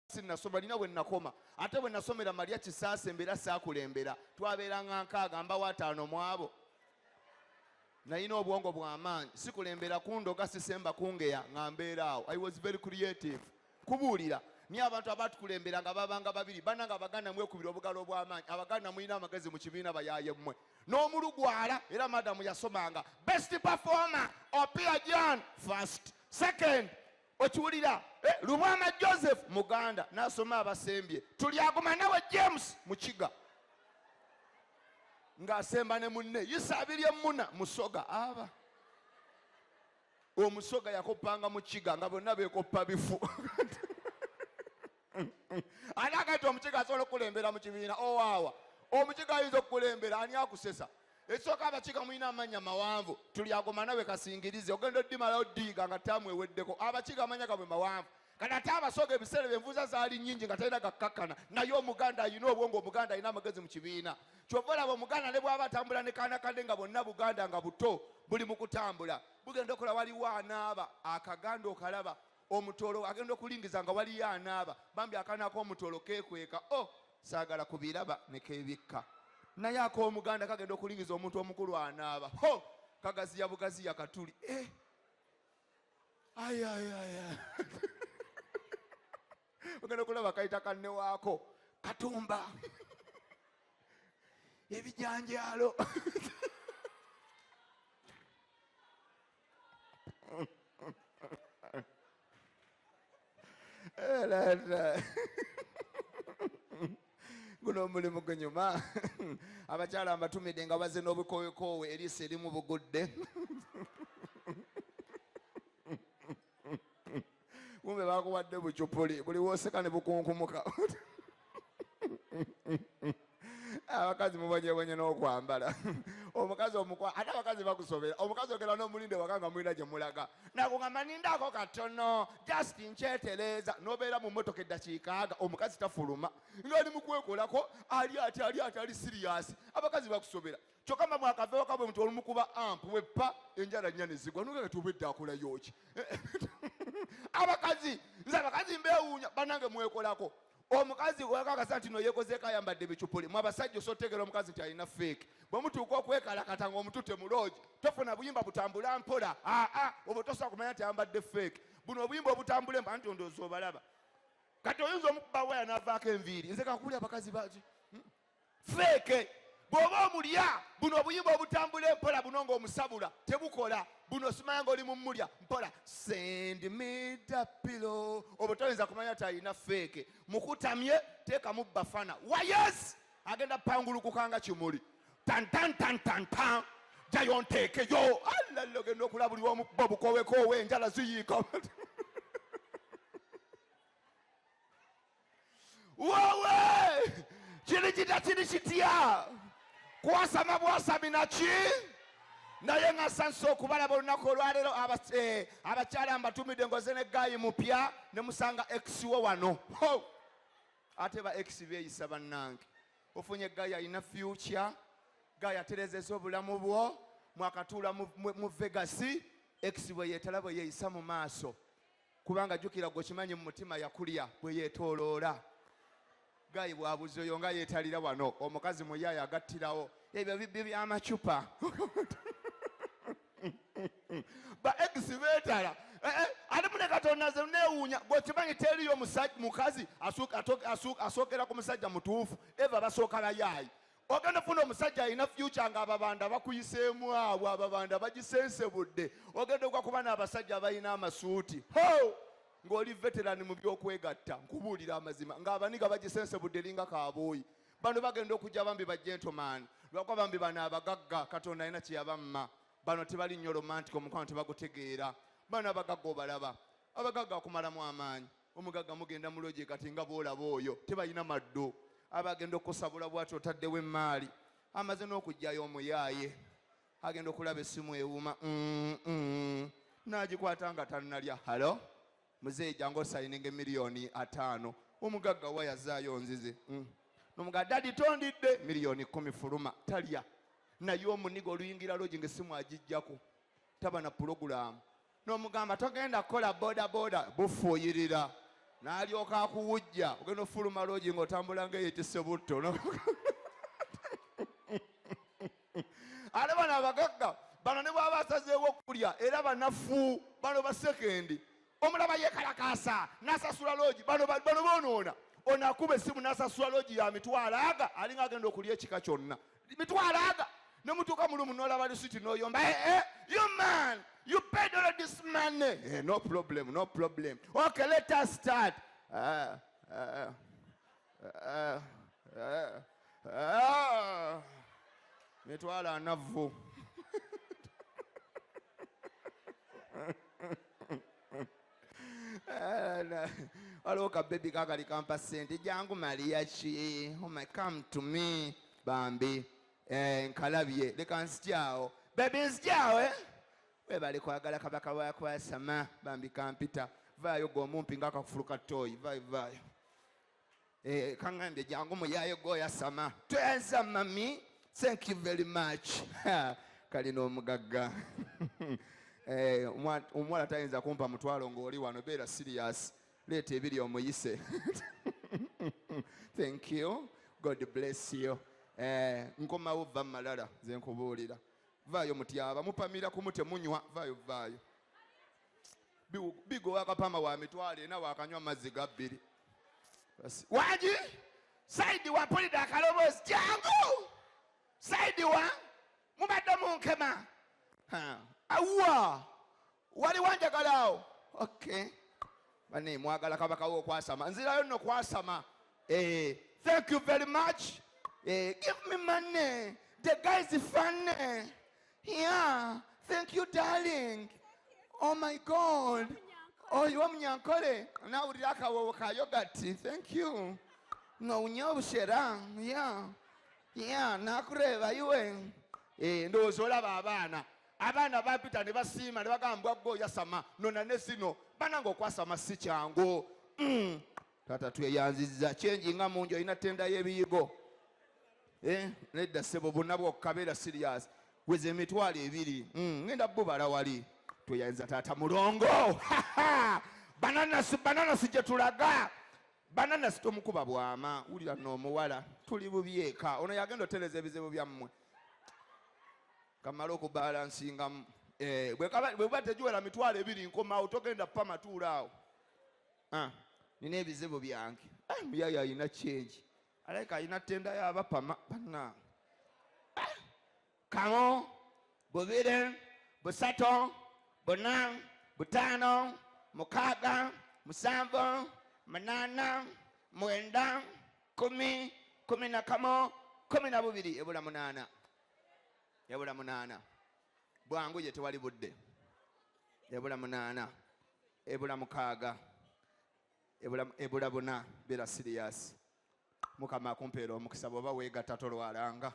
sinnasoma lina bwe nnakoma ate bwe nasomera malya kisaasa embeera saakulembera twabeeranga nkaaga mbawo ataano mu abo nalina obwongo bw'amaanyi sikulembera kundoga sisemba kungeya nga mbeera awo i was very creative kubuulira ni abantu abatukulembera nga babanga babiri bana nga abaganda mwekubira obugalo obw'amaanyi abaganda mulina amagezi mu kibiina bayaye mmwe n'omulugwala era madamu yasomanga best performer opia jan first second Okiwulira? Eh, Lubwama Joseph Muganda n'asoma abasembye. Tulyaguma nawe James Mukiga ng'asemba ne munne Yisa Abiryemmuna Musoga aba omusoga yakoppanga mu kiga nga bonna beekoppa bifu ani agati omukiga asobola okukulembera mu kibiina owaawa oh, omukiga ayinza okukulembera ani akusesa ekisooka abakiga mulina amanya mawanvu tuli agoma nawe kasingirize ogenda oddimalawo ddiiga nga taamu eweddeko abakiga amanya gabwe mawanvu kati ate abasoga ebiseera byenvuza zaali nyingi nga talina gakkakkana naye omuganda alina obwongo omuganda alina amagezi mu kibiina kyova olaba omuganda ne bwaba atambula ne kaana kadde nga bonna buganda nga buto buli mu kutambula bugenda okola waliwo anaaba akaganda okalaba Omutooro agenda okulingiza nga waliyo anaaba bambi akaana akomutooro kekweka oh sagala kubiraba nekebikka naye akomuganda kagenda okulingiza omuntu omukulu anaaba ho kagaziya bugaziya katuli eh. ayayaya ogenda okulaba kayita kanne waako katumba ebijanjaalo guno omulimu gunyuma abakyala mbatumidde nga baze n'obukowekoowe eriiso erimu bugudde kumbe bakuwadde bucupuli buli woseka ne bukunkumuka abakazi mubonyebonye n'okwambala omukazi omukwa ate abakazi bakusobera omukazi ogera n'omulinde waka nga mulina gye mulaga nakugamba nindaako katono just nkyetereeza nobeera mu motoka eddakiikaaga omukazi tafuluma ngaali mukwekolako ali ati ali ati ali siriyasi abakazi bakusobera kyoka mama akaveo kabwe mtu olumukuba amp wepa enjala nyane zigwa nuga kati obedda akola yoki abakazi nze abakazi mbewunya banange mwekolako omukazi wekakasa nti no yekozeeko ayambadde ebicupuli mwe abasajja osotegera omukazi nti alina feeke bwe mutuuka okwekalakata nga omutute mu loogi tofuna buyimba butambula mpola aa obwo tosobola kumanya nti ayambadde feeke buno obuyimba obutambule mba nti ondoozi obalaba kati oyinza omukuba waya navaako enviiri nze kakubuli abakazi baki feeke bw'oba omulya buno obuyimba obutambula empola buno ng'omusabula tebukola buno simanya ng'oli mu mulya mpola sendi mida pilo obwo toyinza kumanya talina feeke mukutamye teekamu bafana wayes agenda pangulukuka nga kimuli tantantantantan jayo nteekeyo allallo genda okula buli omu bo bukowekoowe enjala ziyiika wowe kiri kita kiri kitya kwasama bwasami naki naye nga sansa okubalaba olunaku olwaleero eh, abakyala mbatumidde ngoze ne gayi mupya ne musanga ex wo wano ate ba ex beeyisa bannange ofunye gayi alina fyukya gayi aterezeza obulamu bwo mwakatuula mu vegasi ex bwe yeetala bwe yeeyisa mu maaso kubanga jukira gwe okimanyi mu mutima yakulya bwe yetooloola gayi bwabuzi oyo nga yeetalira wano omukazi muyaayo agattirawo ebyo bibbi by'amacupa ba egisi beetala eh, eh, ate mune katonda ze neewuunya gwe okimanyi teriyo mukazi asookera ku musajja mutuufu eva basooka bayaayi ogenda funa omusajja alina fyuca nga ababanda bakuyiseemu awo ababanda bagisensebudde ogenda ogwa kuba n'abasajja abalina amasuuti ho ng'oli veterani mu by'okwegatta nkubuulira amazima ng'abaniga bagisensebudde linga kaabooyi bano bagenda okujja bambi bajentomaani lwakuba bambi bano abagagga katonda alina kyeyabamma bano tebali nnyo romantic omukwano tebagutegeera bano abagagga obalaba abagagga akumalamu amaanyi Omugagga mugenda mu loogi kati nga bw'olaba oyo tebalina maddu aba agenda okukusabula bw'ati otaddewo emmaali amaze n'okuggyayo omuyaaye agenda okulaba essimu ewuuma n'agikwata nga tannalya halo muzeeyi jangu osayininge miliyoni ataano omugagga wa yazaayo nzizi mm. nomugaa dadi tondidde miliyoni kumi fuluma talya naye omuniga oluyingira loogi nga essimu agijjako taba na pulogulaamu n'omugamba togenda kukola bodaboda bufuuyirira n'alyoka akuwujja ogenda ofuluma loogi ng'otambula ng'eyetise butto ate bano abagagga bano ne bwaba asazeewo okulya era banafu bano basekendi omulaba yekalakaasa n'asasula loogi bano bonoona onakuba essimu n'asasula loogi ya mitwalo aga alinga agenda okulya ekika kyonna mitwalaga nemutuuka mulumu nolaba lisiti noyomba eh, eh, you man you paid all this money eh, no problem no problem okay let us start uh, uh, uh, uh, uh. mitwala anavvu Eh, waliwo ka bebi kakali kampa sente jangu maliya ki oh my come to me bambi eh, nkalabye leka nzityawo bebi nzityawo eh? webale kwagala kabaka wakwasama bambi kampita vaayo gwe omumpi nga akakufulu ka toyi vaayo vaayo Eh, kangambye jangu muyaye goyasama tweza mami thank you very much kalina omugagga eh, omuwala tayinza kumpa mutwalo ngaoli wano beera serious leeta ebiri omuyise thank you god bless you eh, nkomawo va mumalala nze nkubuulira vaayo mutyaba mupamira kumu temunywa vaayo vaayo bigo wakapama wa mitwalo ena wakanywa mazzi ga bbiri wagi saidi wa pulida akaloboozi jangu saidi wa mubadde munkema awuwa wali wanjagala awo okay bane mwagala kabakawo okwasama nzirayo nno kwasama eh, thank you very much eh, give me money the guys funny Yeah, thank you darling. Oh my God. Oyo oh, omunyankole nawulira akawoowo ka yogati. Thank you. Ng'owunya obushera. Yeah. Yeah, nakureeba iwe. Eh, ndowooza olaba abaana. Abaana bapita ne basiima ne bagamba gwe oyasama nona ne zino. Banange okwasama si kyangu. Mm. Tata tweyanziza change nga mungi olina tenda yebiyigo eh, nedda sebo bonna bwokka beera serious weza emitwalo ebiri mm, ngenda bubala wali tweyanziza taata mulongo bananasi bananasi gyetulaga bananasi tomukuba bwama wulira noomuwala tuli bubyeka ono yagenda otereza ebizibu byammwe kamala okubalansingamu eh, bweba tegiwera mitwalo ebiri nkomawo togenda pamatuulaawo ah, nina ebizibu byange ah, muyaye alina kyengi alabika alina tenda yabapama banna ah, kamo bubire busato buna butano mukaaga musanvu munana mwenda kumi kumi na kamo kumi na bubiri ebula munana ebula munana bwangu ye tewali budde ebula munaana ebula mukaaga ebula ebula buna bera siriyasi mukama akumpeera omukisa bwoba weegatta tolwalanga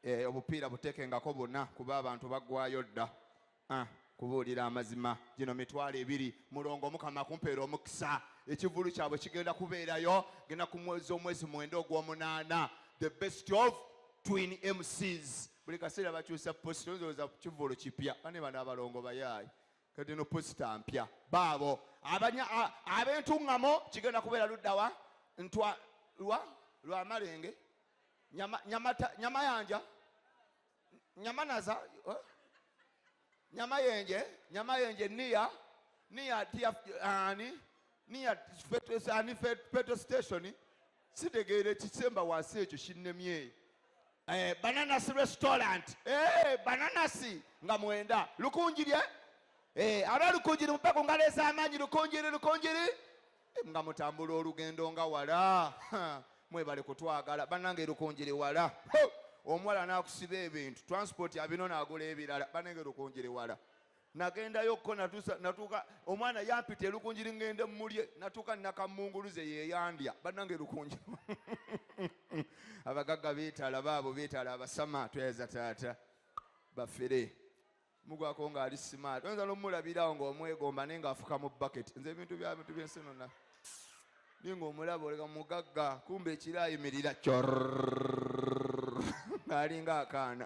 e, obupiira buteekengako buna kuba abantu baggwayo dda ah, kubuulira amazima gino mitwalo ebiri mulongo mukama akumpeera omukisa ekivulu kyabwe kigenda kubeerayo genda ku mwezi omwezi mwenda ogw'omunaana the best of twin mcs Buli kaseera bakyusa post tolowooza kivvulu kipya bane bano abalongo bayaaye kati no posita mpya baabo abanya ab'entuŋŋamo kigenda kubeera luddawa ntwa lwa lwa malenge nyama, nyamata, nyamayanja nyamanaza eh? Nyamayenje, Nyamayenje near near ani near petrol ani petrol station sitegeere kisemba wansi ekyo kinnemye eh, bananasi restaurant eh, bananasi nga mwenda lukunjirye eh, aba lukunjiri mupaka ngalo ez'amaanyi lukunjiri lukunjiri nga mutambula olugendo nga wala mwebale kutwagala banange erukunjiri wala omuwala nakusiba ebintu transport abino nagula ebirala banange erukunjiri wala nagendayo ko natuuka omwana yampita erukunjiri ngende mulye natuuka nakamunguluze yeyandya banange erukunjiri abagagga bitala baabo bitala abasama tweza taata bafere mugwako nga ali smart oyinza nomulabirawo nga omwegomba naye nga afuka mu bucket nze ebintu byabintu byensi nona naye nga omulaba olega mugagga kumba ekiro ayimirira cor ngaalinga akaana